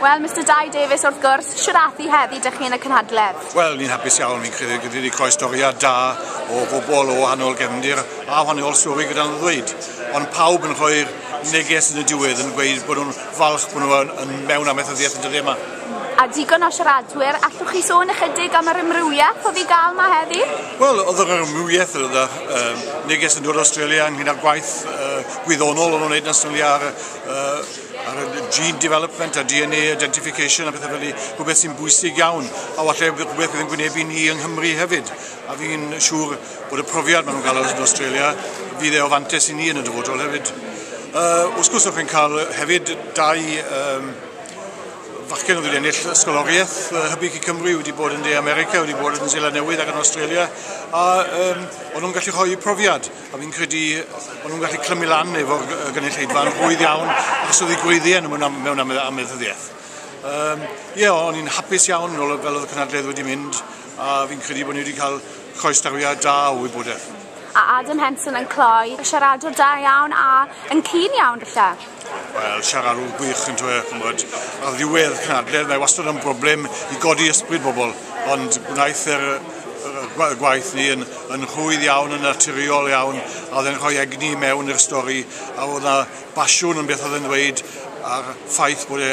Wel, Mister Dai Davies, wrth gwrs, siaraddu heddi dych chi yn y cynhadledd. Wel, ni'n hapus iawn, ni'n credu gyda wedi cael storiad da o bobl o wahanol gefndir a wahanol stori gyda'n ddweud. Ond pawb yn rhoi'r neges yn y diwedd yn gweud bod nhw'n falch bod nhw yn, yn mewn amaethyddiaeth yn dyddiau yma. A digon o siaradwyr, allwch chi sôn ychydig am yr ymrywiaeth oedd i gael yma heddi? Wel, oedd yr ymrywiaeth, oedd yr uh, neges yn dod o Australia ynglyn â'r gwaith uh, gwyddonol o'n wneud yn Australia ar uh, ar y gene development a DNA identification a pethau fel ni, rhywbeth sy'n bwysig iawn, a falle rhywbeth bydd yn gwynebu ni yng Nghymru hefyd. A fi'n siŵr bod y profiad maen nhw'n cael yn Australia, fydd e o fantes i ni yn y dyfodol hefyd. Uh, wrth gwrs, o'ch chi'n cael hefyd dau um, fachgen oedd wedi ennill ysgoloriaeth uh, hybyg i Cymru, wedi bod yn De America, wedi bod yn Zeland Newydd ac yn Australia, a um, o'n nhw'n gallu rhoi profiad. A fi'n credu bod nhw'n gallu clymu lan efo'r gynulleidfa yn rhwydd iawn achos oedd ei gweiddi yn mewn, am, mewn am, amaethyddiaeth. Um, ie, yeah, o'n i'n hapus iawn fel oedd y cynadledd wedi mynd a fi'n credu bod ni wedi cael croesdawiad da o wybodaeth. A Adam Henson yn cloi, siaradwr da iawn a yn cyn iawn falle. Wel, siaradwr gwych yn dweud, chymod, ar ddiwedd cynadledd, mae wastad yn broblem i godi ysbryd bobl, ond gwnaeth yr, y gwaith ni yn, yn rhwydd iawn, yn naturiol iawn, a oedd e'n rhoi egni mewn i'r stori, a oedd yna basiwn yn beth oedd e'n dweud, a'r ffaith bod e